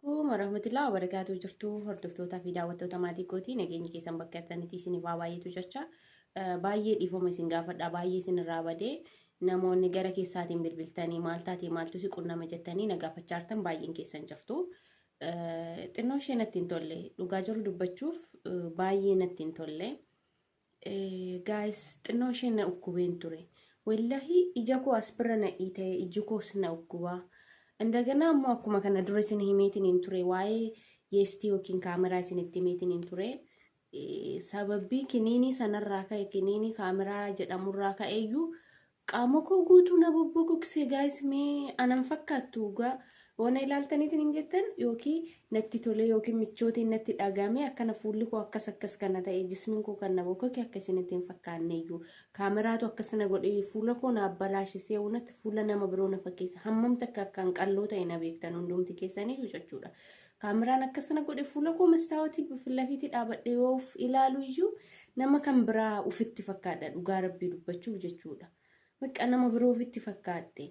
Kun warahmatullahi wabarakatuh jirtuu hordoftootaa fi daawwattoota maatii kootii nageenyi keessan bakka jirtanitti isin waa baay'eetu jecha baay'ee dhiifama isin gaafadha baay'ee isin irraa badee namoonni gara keessaatiin bilbiltanii maal taatee maaltu si qunname jettanii na gaafachaa jirtan baay'een keessan jirtu. Xinnoo ishee natti hin tolle dhugaa jiru dubbachuuf baay'ee natti hin tolle. Gaayis xinnoo ishee na ukkubeen ture. Wallahi ija koo as bira na dhiite iji koos na ukkubaa. Indaganaa immoo akkuma kana dura isin himeetiin hin ture waa'ee yeestii yookiin kaameraa isinitti himeetiin hin ture. Sababbii kiniinii sanarraa ka'e kiniinii kaameraa jedhamurraa ka'eeyyuu Qaamakoo guutuu na bubbuqukse guys mee anan fakkaattu dhugaa yoo na ilaaltaniitiin hin jettan yookiin natti tolee yookiin michootiin natti dhagaame akkana fuulli koo akkas akkas kana ta'e jismiin koo kan na bokkoke akka isinitti hin fakkaanne iyyuu kaameraatu akkas na godhe fuula koo na abbalaashe si'a hunatti fuula nama biroo na fakkeessa hammamta akka akkaan qalloo ta'e na beektan hundumti keessanii jechuudha Kaameraan akkas na godhe fuula koo mastaawatii filafiitii dhaabadhe yoo of ilaalu iyyuu nama kan biraa ufitti fakkaadha dhugaa rabbii dubbachuuf jechuudha. Bakka nama biroo ufitti fakkaadhe.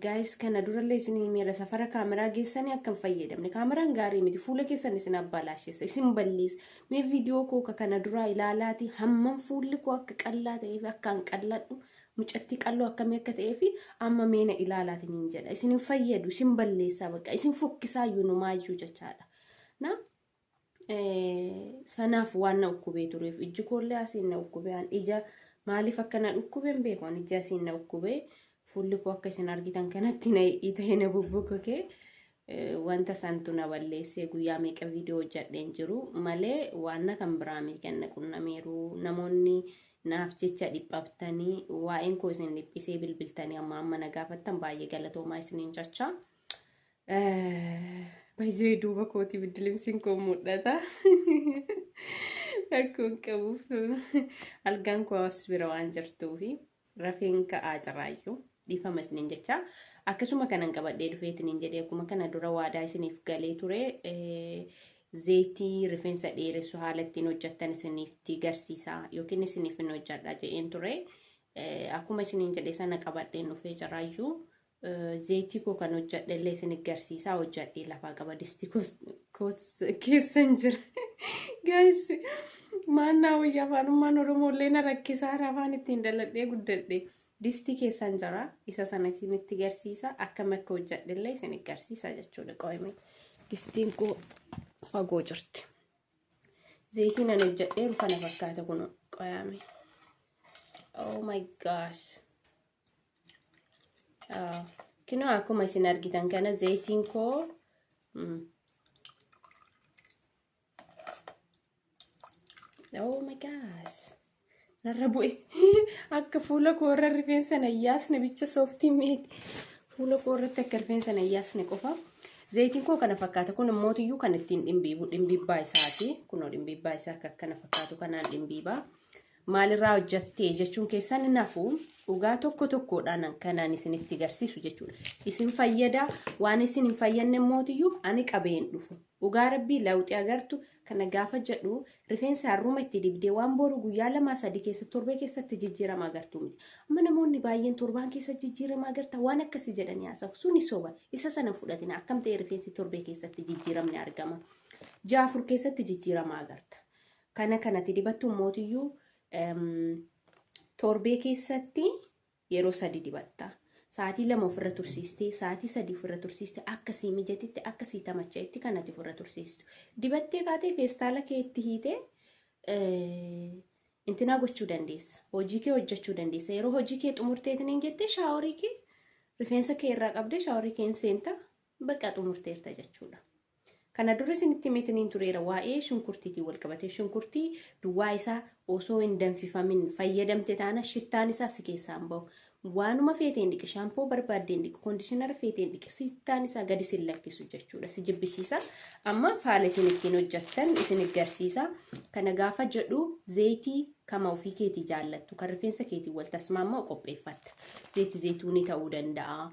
Gaayis kana durallee isin himeera safara kaameraa geessanii akka hin fayyadamne. Kaameraan gaarii miti fuula keessan isin abbaalaashessa isin balleessa. Mee viidiyoo koo ka kana duraa ilaalaati hammam fuulli koo akka qallaa ta'ee fi akkaan qalladhu mucattii qalloo akkamii akka ta'ee fi amma meena ilaalaatiin hin jedha. Isin hin fayyadu, isin balleessaa bakka, isin fokkisaa iyyuu numaa iyyuu jechaadha. Na sanaaf waan na dhukkubee tureef ijji koollee asiin na dhukkubee an ija maaliif akka na dhukkubee hin beeku an ijji asiin na dhukkubee fuulli koo akka isin argitan kanatti na hidhii ta'ee na bubbukukee Wanta santu na balleessee guyyaa meeqa viidiyoo hojjadhe hin jiru malee waanna kan biraa mii kan na qunnamiiru namoonni naaf jecha dhiphabtanii waa'een koo isin dhiphisee bilbiltanii amma amma na gaafattan baay'ee galatoomaa isiniin jechaa. Baay'ee duuba kooti biddilimsiin koo mul'ata. Rakkoon qabuuf algaan koo as bira waan jirtuufi. Rafeen ka'aa carraayyuu dhiifama isiniin jecha akkasuma kanan qabadhee dhufee isiniin jedhee akkuma kana dura waadaa isiniif galee ture zeetii rifeensa dheeressu haala ittiin hojjettan isinitti garsiisaa yookiin isiniif hin hojjedha jedheen ture akkuma isiniin jedhee sana qabadheen dhufee carraayyuu Zeeytii koo kan hojjadhe illee isin garsiisaa hojjadhee lafaa qaba disti koos keessan jira. Gaayis maannaa wayyaa afaanummaan Oromoo illee na rakkisaa afaan ittiin dhaladhee guddadhe. Disti keessan jira isa sana isinitti garsiisa akkam akka hojjadhe illee isin garsiisa jechuudha qo'ime. Distiin koo fagoo jirti. Zeeytiin ani hojjadheeru kana fakkaata kun qo'ame. Oh my gosh. Kinoo akkuma isin argitan kana zayitiin koo Oh my gosh. Narra bu'e. Akka fuula koo irra rifeensa na yaasne bicha sooftii meeti. Fuula koo irratti akka rifeensa na yaasne qofa. Zayitiin koo kana fakkaata. Kun immoo iyyuu kan ittiin dhimbiibu dhimbiibbaa isaati. Kunoo dhimbiibbaa isaa akka akkana fakkaatu kanaan dhimbiibaa. maalirraa hojjatte jechuun keessan hin hafu dhugaa tokko tokkoodhaan kanaan isinitti garsiisu jechuudha. Isin fayyada waan isin hin fayyanne mootiyyuu ani qabee hin dhufu. Dhugaa rabbii lawxii agartu kana gaafa jedhu rifeensa harruma itti dibdee waan boru guyyaa lamaa sadii keessa torbee keessatti jijjiirama agartu miti. Amma namoonni baay'een torbaan keessa jijjiirama agarta waan akkasii jedhanii haasa'u suni soba isa sana fudhatina akkam ta'e rifeensi torbee keessatti jijjiiramni argama. Jaafur keessatti jijjiirama agarta. Kana kanati dibattu mootiyyuu torbee keessatti yeroo sadi dibatta. Sa'aatii lama ofirra tursiistee, sa'aatii sadi ofirra tursiiste akka sii mijatitti, akka sii tamacha'etti kanati ofirra tursiistu. Dibattee kaatee feestaala kee itti hiitee intinaa gochuu dandeessa. Hojii kee hojjechuu dandeessa. Yeroo hojii kee xumurteetiin hin jettee shaaworii kee rifeensa kee irraa qabdee shaaworii kee hin seenta. Baqa xumurteerta jechuudha. Kana dura isinitti himeetiniin tureera waa'ee shunkurtiitiin wal qabatee shunkurtii duwwaa isaa osoo hin danfifamin fayyadamte taana shittaan isaa si keessaan bahu. Waanuma feeteen dhiqi shaampoo barbaaddeen dhiqi koondishinara feeteen dhiqi shittaan isaa gadi sin lakkisu jechuudha si jibbisiisa. Amma faala isin ittiin hojjettan isin garsiisa. Kana gaafa jedhu zeetii kama ofii keetii jaallattu kan rifeensa keetii wal tasmaamma'u qopheeffatta. Zeeti zeetuunii ta'uu danda'a.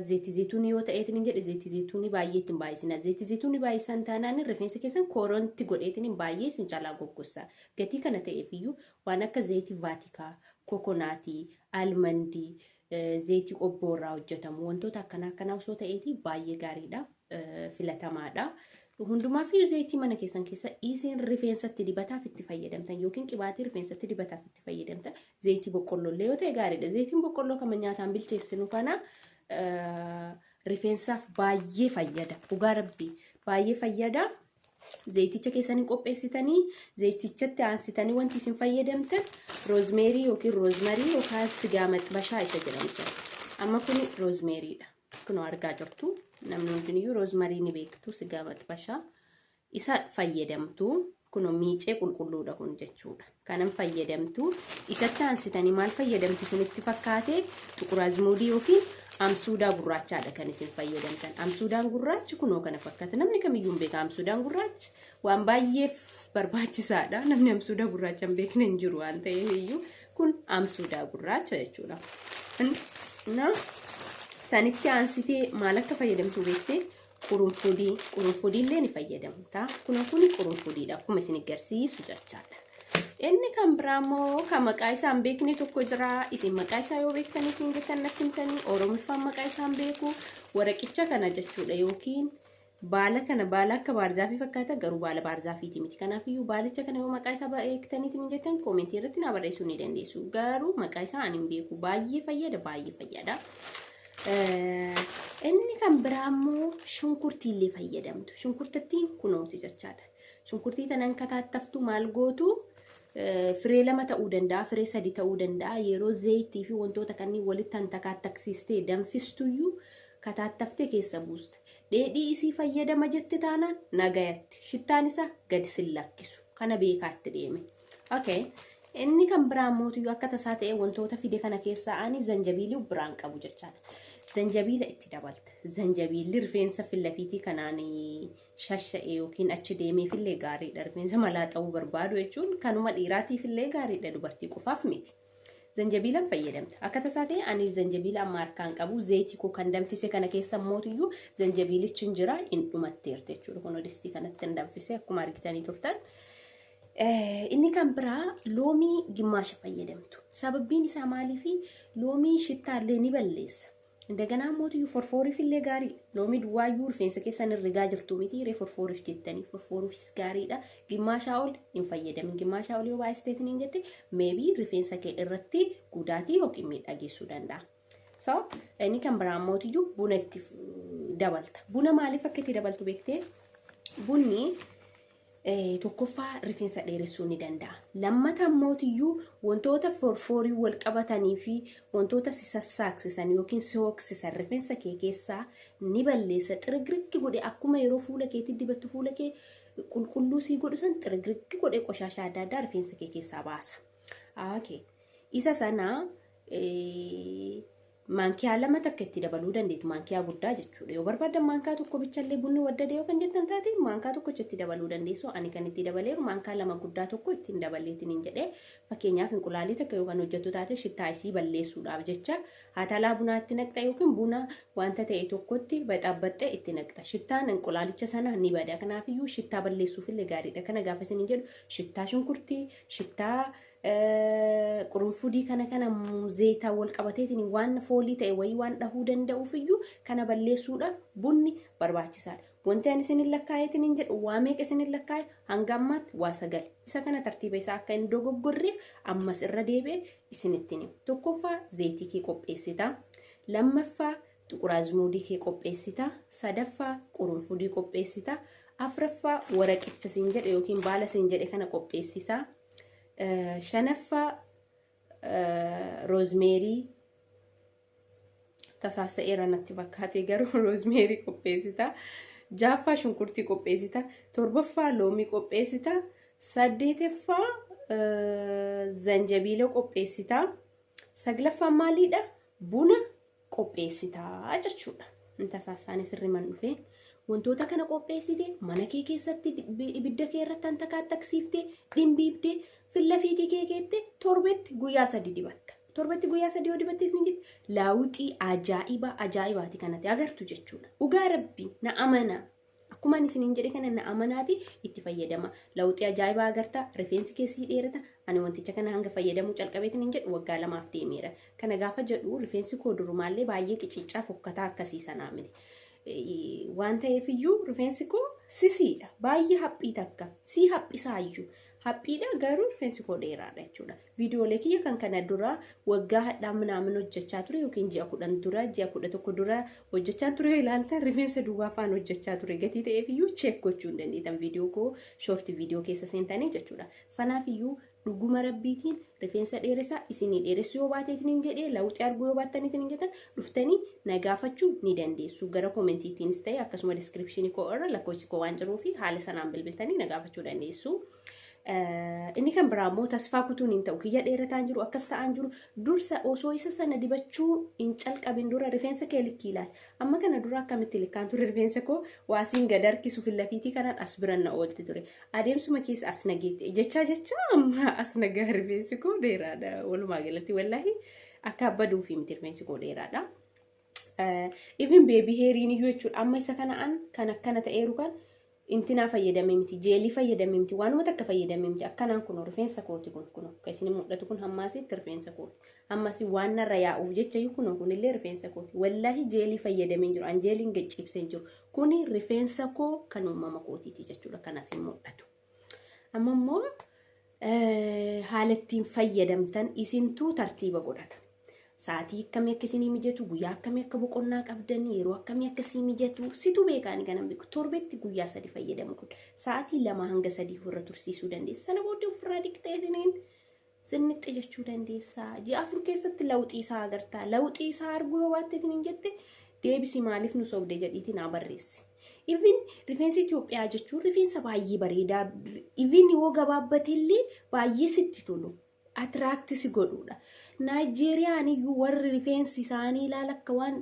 Zeetii zeetuunii yoo ta'eetiin hin jedhe zeetii zeetuunii baay'ee ittiin baay'isina. Zeetii zeetuunii baay'isan taanaan rifeensa keessan koronti godheetiin hin baay'ee isin caalaa goggossa. Gatii kana ta'eef iyyuu waan akka zeetii vaatikaa, kokonaatii, almandii, zeetii qobboo irraa hojjetamu wantoota akkanaa akkanaa osoo ta'eetii baay'ee gaariidha. Filatamaadha. Hundumaa fi zeetii mana keessan keessa isin rifeensatti dibataaf itti fayyadamtan yookiin qibaatii rifeensatti dibataaf itti fayyadamtan Zayitii boqqolloo illee yoo ta'e gaariidha. Zayitiin boqqolloo kan nyaataan bilcheessinu kana rifeensaaf baay'ee fayyada. Dhugaa rabbii baay'ee fayyada. Zayiticha keessanii qopheessitanii zayitichatti aansitanii wanti isin fayyadamtan roozmeerii yookiin roozmarii yookaan sigaa maxbashaa isa jedhamu jira. Amma kun roozmeeriidha. Kunoo argaa jirtu namni hundiniyyuu roozmarii ni beektu sigaa maxbashaa. isa fayyadamtu kuno miicee qulqulluudha kun jechuudha kanan fayyadamtu isatti aansitanii maal fayyadamtu isinitti fakkaate xuquraazmuudii yookiin amsuudaa gurraachaadha kan isin fayyadamtan amsuudaan gurraachi kunoo kana fakkaata namni kamiyyuu hin beeka amsuudaan gurraachi waan baay'eef barbaachisaadha namni amsuudaa gurraacha hin beekne hin jiru waan ta'eef iyyuu kun amsuudaa gurraacha jechuudha. Na sanitti aansitee maal akka fayyadamtu beektee Qurunfudii, qurunfudii illee ni fayyadamta. Kunoo kuni qurunfudiidha akkuma isin agarsiisu jechaadha. Inni kan biraa immoo kan maqaa isaa hin beekne tokko jira. Isin maqaa isaa yoo beektan isin jettan natti himtanii Oromiffaan maqaa isaa hin beeku. Waraqicha kana jechuudha yookiin baala kana baala akka baarzaafii fakkaata garuu baala baarzaafiiti miti. Kanaafiyyuu baalicha kana yoo maqaa isaa beektaniitu hin jettan koomentii irratti naa barreessuu ni dandeessu. Garuu maqaa isaa ani hin beeku. Baay'ee fayyada baay'ee fayyada. Inni kan biraa immoo shunkurtii illee fayyadamtu. Shunkurtattiin kunooti jechaadha. Shunkurtii tanan kataattaftu maal gootu firee lama ta'uu danda'a, firee sadi ta'uu danda'a. Yeroo zayitii fi wantoota kanneen walitti tan takaattaksiistee danfistuyyuu kataattaftee keessa buusta. Dheedhii isii fayyadama jette taanaan nagayatti. Shittaan isaa gadi sin lakkisu. Kana beekaatti deeme. Okay. Inni kan biraa immoo tuyyuu akka tasaa ta'e wantoota fide kana keessaa ani zanjabiilii biraan qabu jechaadha. Zanjabiila itti dabalta. Zanjabiilli rifeensa filafiitii kanaan shasha'e yookiin achi deemeef illee gaariidha. Rifeensa malaa ta'uu barbaadu jechuun kanuma dhiiraatiif illee gaariidha dubartii qofaaf miti. Zanjabiilan fayyadamta. Akka tasaa ta'e ani zanjabiila amma harkaan qabu zayitii koo kan danfise kana keessa mootiyyuu zanjabiilichi hin jira hin dhumatteerti jechuudha. Kun odistii kanatti hin danfise akkuma argitanii turtan. Inni kan biraa loomii gimmaasha fayyadamtu. Sababbiin isaa maaliifi loomii shittaallee ni balleessa. Indaganaa ammootiyyuu forfooruuf illee gaariidha. Loomii duwwaayyuu rifeensa keessan hin rigaa jirtu miti ree forfooruuf jettanii forfooruufis gaariidha. Gimmaashaa ol hin fayyadamin. Gimmaashaa ol yoo baay'isteetiin hin jette meebii rifeensa kee irratti gudaatii yookiin miidhaa geessuu danda'a. So inni kan biraa ammootiyyuu buna itti dabalta. Buna maaliif akka itti dabaltu beektee bunni tokkoffaa rifeensa dheeressuu ni danda'a. Lammata ammootiyyuu wantoota forfoorii wal qabatanii fi wantoota si sassaaksisan yookiin si hooksisan rifeensa kee keessaa ni balleessa. Xirigiriggi godhe akkuma yeroo fuula keetti dibattu fuula kee qulqulluu sii godhu san xirigiriggi godhe qoshaashaa adda addaa rifeensa kee keessaa baasa. Okay. Isa sana Maankiyaa lama takka itti dabaluu dandeetti. Maankiyaa guddaa jechuudha. Yoo barbaaddan maankaa tokko bichallee bunni waddade yoo kan jettan taate maankaa tokkocha itti dabaluu dandeessu. Ani kan itti dabaleeru maankaa lama guddaa tokko ittiin dabaleetiin hin jedhee. Fakkeenyaaf inqulaalii takka yoo kan hojjettu taate shittaa isii balleessuudhaaf jecha haatalaa bunaa itti naqxa yookiin buna wanta ta'e tokkotti baxaabbaxxee itti naqxa. Shittaan inqulaalicha sana ni bada. Kanaafiyyuu shittaa balleessuufillee gaariidha. Kana gaafa isin hin jedhu shittaa shunkurtii, shittaa qurunfudii kana kana zeeyitaan wal qabateetiin waan foolii ta'e wayii waan dhahuu danda'uuf iyyuu kana balleessuudhaaf bunni barbaachisaadha. Wanti ani isinin lakkaa'eetiin hin jedhu waa meeqa isinin lakkaa'e hanga ammaatti waa sagal. Isa kana tartiiba isaa akka hin dogoggorreef ammas irra deebi'e isinittiin hima. Tokkoffaa zeeyitii kee qopheessita. Lammaffaa Xuqur azmuudii kee qopheessita. Sadaffaa qurunfudii qopheessita. Afraffaa waraqicha siin jedhe yookiin baala siin jedhe kana qopheessita. Shanaffaa roozmeerii tasaasa'eera natti fakkaatee garuu roozmeerii qopheessita. Jaaffaa shunkurtii qopheessita. Torbaffaa loomii qopheessita. Saddeetaffaa zanjabiila qopheessita. Saglaffaa maaliidha? Buna qopheessita jechuudha. Tasaa isaanii sirriman dhufee wantoota kana qopheessite mana kee keessatti ibidda kee irratti kan takaattaksiifte dhimbiibde fillafiitii kee keette torbetti guyyaa sadi dibatta. Torbetti guyyaa sadi yoo dibatteef ni laawuxii ajaa'ibaa ajaa'ibaati kanatti agartu jechuudha. Dhugaa rabbi na amana Akkuma ani isiniin jedhe kana na amanaati itti fayyadama. Lawuxii ajaa'ibaa agarta, rifeensi keessi dheerata. Ani wanticha kana hanga fayyadamuu calqabeetiin hin jedhu waggaa lamaaf deemeera. Kana gaafa jedhu rifeensi koo durumaallee baay'ee qiciccaa fokkataa akkasii sanaa miti. Waan ta'eef iyyuu rifeensi koo sisiidha. Baay'ee haphii takka. Sii haphisaa iyyuu. Haphiidha garuu rifeensi koo dheeraadha jechuudha. Viidiyoolee kiyya kan kana dura waggaa hadhaa minaamin hojjechaa ture yookiin ji'a kudhan dura ji'a kudha tokko dura hojjechaa ture yoo ilaaltan rifeensa duwwaa faan hojjechaa ture gatii ta'eef iyyuu cheek gochuu hin dandeettan viidiyoo koo shoorti viidiyoo keessa seentanii jechuudha. Sanaaf iyyuu dhuguma rabbiitiin rifeensa dheeressaa isinii dheeressuu yoo baateetiin hin jedhee lawuxii arguu yoo baattaniitiin hin jettan dhuftanii na gaafachuu ni dandeessu. Gara koomentiitiinis ta'e akkasuma diskiripshinii koo irra lakkoofsi koo waan jiruu fi haala sanaan bilbiltanii na gaafachuu dandeessu. Inni kan biraa immoo tasfaa kutuun hin ta'u. Kiyya dheerataan jiru akkas ta'aan jiru dursa osoo isa sana dibachuu hin calqabin dura rifeensa kee likkii ilaali. Amma kana dura akkamitti likkaan ture rifeensa koo waasiin gad harkisu fillafiitii kanaan as biran na oolti ture. Adeemsuma keessa as nageetti jechaa jechaa amma as nagaa rifeensi koo dheeraadha walumaa galatti wallaahi. Akka baduufi miti rifeensi koo dheeraadha. Even beebii heeriin iyyuu jechuudha amma isa kana an kan akkana ta'eeru kan intinaa fayyadamee miti jeelii fayyadamee miti waanuma takka fayyadamee miti akkanaan kun rifeensa kooti kun kun akka isin mul'atu kun hammaasitti rifeensa kooti hammasi waan narra yaa'uuf jecha iyyuu kun kunillee rifeensa kooti wallaahi jeelii fayyadamee jiru an jeeliin gaccibsee jiru kuni rifeensa koo kan uumama kootiiti jechuudha kan asiin mul'atu. Amma immoo haala ittiin fayyadamtan isintuu tartiiba godhata. Sa'aatii akkamii akka isinii mijatu, guyyaa akkamii akka boqonnaa qabdan, yeroo akkamii akka isinii mijatu, situ beekaani kanan beeku. Torbetti guyyaa sadi fayyadamu kun sa'aatii lama hanga sadii ofirra tursiisuu dandeessa. Sana booddee ofirraa dhiqxee isiniin Zinnixxi jechuu dandeessa. Ji'a afur keessatti lawuxii isaa agartaa. Lawuxii isaa arguu yoo baatteetiin hin jette deebisi maaliif nu sobde jedhiiti naa barreessi. Even rifeensi Itoophiyaa jechuun rifeensa baay'ee bareedaa even yoo gabaabbateellee baay'ee sitti tolu. Atiraakti si godhuudha. Naayijeeriyaan iyyuu warri rifeensi isaanii ilaala akka waan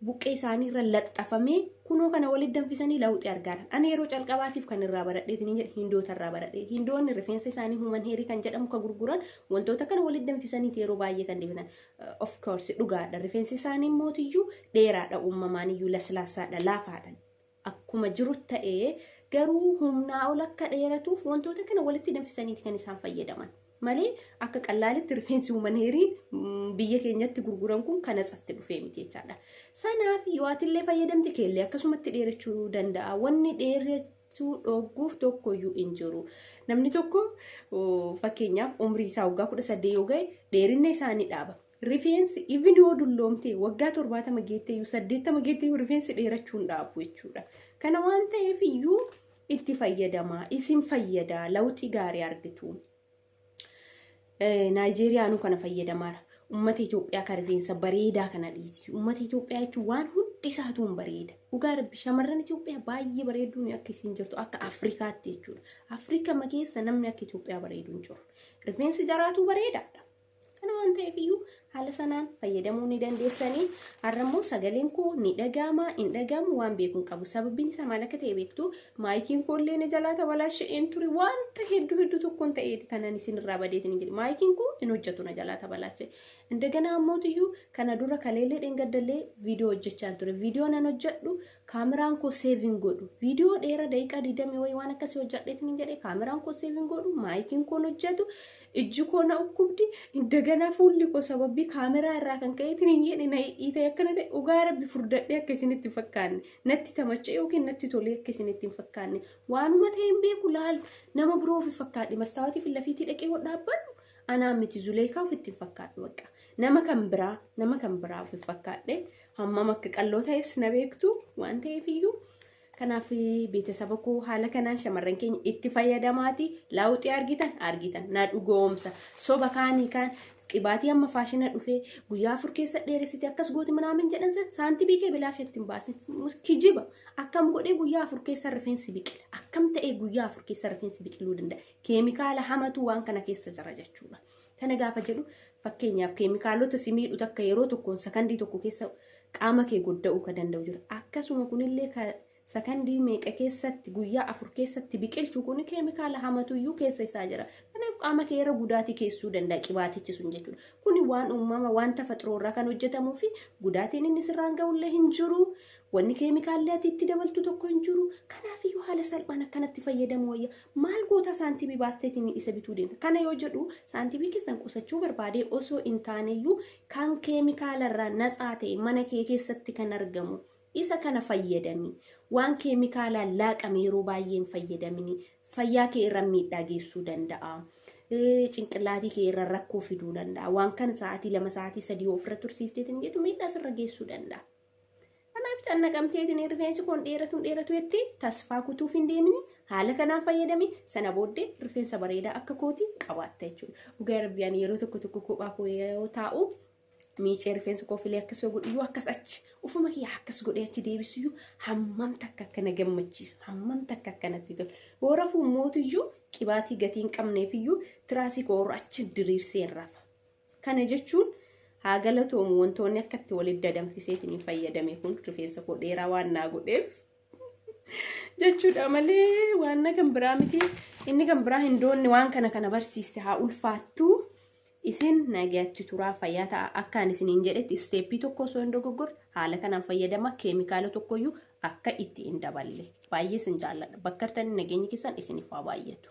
buqqee isaanii irra laxxafamee kunoo kana walitti danfisanii lawuxii argaaran. Ani yeroo calqabaatiif kan irraa baradhee isiniin jedhe hindoota irraa baradhee. Hindoonni rifeensa isaanii human heerii kan jedhamu ka gurguran wantoota kana walitti danfisaniiti yeroo baay'ee kan dibatan. Of course dhugaadha rifeensi isaanii mootiyyuu dheeraadha uumamaaniyyuu laslaasaadha laafaadha. akkuma jiru ta'ee garuu humnaa ol akka dheeratuuf wantoota kana walitti danfisaniiti kan isaan fayyadaman. Malee akka qallaalitti rifeensi humaneerii biyya keenyatti gurguran kun kan atsatti dhufee miti jechaadha. Sanaaf yoo atillee fayyadamte keellee akkasumatti dheerachuu danda'a. Wanni dheerachuu dhogguuf tokkoyyuu hin jiru. Namni tokko fakkeenyaaf umrii isaa waggaa kudha saddeet yoo ga'e dheerinna isaa ni dhaaba. Rifeensi even yoo dulloomte waggaa torbaatama geettee iyyuu saddeettama geettee iyyuu rifeensi dheerachuu hin dhaabu jechuudha. Kana waan ta'eef iyyuu itti fayyadamaa isin fayyadaa lawxii gaarii argitu. Naayijeeriyaanuu kana fayyadamaara. Uummata Itoophiyaa kan rifeensa bareedaa kana dhiisi. Uummata Itoophiyaa jechuun waan hundi isaatu hin bareeda. Dhugaa rabbi shamarran Itoophiyaa baay'ee bareeduun akka isiin jirtu akka Afrikaatti jechuudha. Afrikama keessa namni akka Itoophiyaa bareedu hin jiru. Rifeensi jaraatuu bareedaadha. Kana waan ta'eef iyyuu haala sanaan fayyadamuu ni dandeessanii har'a immoo sagaleen koo ni dhaga'ama hin dhaga'amu waan beekuun qabu sababiin isaa maal akka ta'e beektu maayikiin koo illee na jalaa tabalaasha'een ture wanta hedduu hedduu tokkoon ta'eeti kanan isin irraa badeetiin hin jedhe maayikiin koo hin hojjetu na jalaa tabalaasha'e indaganaa ammootiyyuu kana dura kaleellee dhengaddallee viidiyoo hojjechaan ture viidiyoo nan hojjedhu kaameraan koo seevin godhu viidiyoo dheeraa daqiiqaa 20 wayii waan akkasii hojjedheetiin hin jedhe kaameraan koo seevin godhu maayikiin koo hin hojjetu Ijji koo na dhukkubdi indagana fuulli koo sababii kaameraa irraa kan ka'eetiin hin jedhe na dhiitee akkana ta'e dhugaa rabbi furdadhee akka isinitti hin fakkaanne natti tamacha'e yookiin natti tolee akka isinitti hin fakkaanne waanuma ta'e hin beeku laal nama biroo ofi fakkaadhe mastaawatii fi lafiitii dhaqee wal dhaabbannu anaa miti zuleekaa ofitti hin fakkaadhu bakka nama kan biraa nama kan biraa ofi fakkaadhe hammam akka qalloo ta'es na beektu waan ta'eef iyyuu Kanaaf beetasaba koo haala kanaan shamarran keenya itti fayyadamaati laawuxii argitan argitan na dhugoomsa soba kaanii kaan qibaatii amma faashina dhufee guyyaa afur keessa dheeressite akkas gooti minaamin jedhan san saantibii kee bilaa isheetti hin baasin kijiba akkam godhee guyyaa afur keessa rifeensi biqila akkam ta'ee guyyaa afur keessa rifeensi biqiluu danda'a keemikaala hamatu waan kana keessa jira jechuudha. Kana gaafa jedhu fakkeenyaaf keemikaalota si miidhu takka yeroo tokkoon sakandii tokko keessa qaama kee godda'uu ka danda'u jira. Akkasuma kunillee ka sakandii meeqa keessatti guyyaa afur keessatti biqilchu kun keemikaala hamatuyyuu keessa isaa jira. Kanaaf qaama kee irra gudaatii keessuu danda'a qibaatichi sun jechuudha. Kuni waan uumama waan tafaxiroo irraa kan hojjetamuu fi gudaatiin inni sirraan ga'ullee hin jiru. Wanni keemikaallee ati itti dabaltu tokko hin jiru. Kanaafiyyuu haala salphaan akkanatti fayyadamu wayya. Maal goota saantibii baasteetiin isa bituu deemta. Kana yoo jedhu saantibii keessan qusachuu barbaadee osoo hin taaneyyuu kan keemikaalarraa natsaa ta'e mana kee keessatti kan argamu isa kana fayyadami. Waan keemikaalaan laaqame yeroo baay'ee hin fayyadamini. Fayyaa kee irra miidhaa geessuu danda'a. Eh, Cinqillaatii kee irra rakkoo fiduu danda'a. Waan kana sa'aatii lama sa'aatii sadii yoo ofirra tursiifteetiin jettu miidhaa sirra geessuu danda'a. Kanaaf cannaqamteetiin rifeensi koon dheeratuun dheeratuetti tasfaa kutuuf hin deemini. Haala kanaan fayyadami. Sana booddee rifeensa bareedaa akka kooti qabaatta jechuudha. Dhugaa rabbi ani yeroo tokko tokko kophaa koo yoo taa'u miicee rifeensa koo filee akkas yoo godhu yoo akkas achi ofuma kiyya akkas godhee achi deebisu iyyuu hammam takka akka na gammachiisu hammam takka akka natti tolu. Boora fuummootu iyyuu qibaatii gatii hin qabneef iyyuu tiraasii koo irra achi diriirsee hin rafa. Kana jechuun haa galatoomu wantoonni akka itti walitti dadanfiseetiin hin fayyadame kun rifeensa koo dheeraa waan naa godheef jechuudha malee waan na kan biraa miti inni kan biraa hin doonne waan kana kana barsiiste haa ulfaattu isin nagaatti turaa fayyaa ta'a akkaan isiniin jedhetti isteeppii tokko osoo hin dogoggorre haala kanaan fayyadama keemikaala tokkoyyuu akka itti hin daballe baay'ee isin jaalladha bakkartanii nageenyi keessan isiniif haa baay'atu.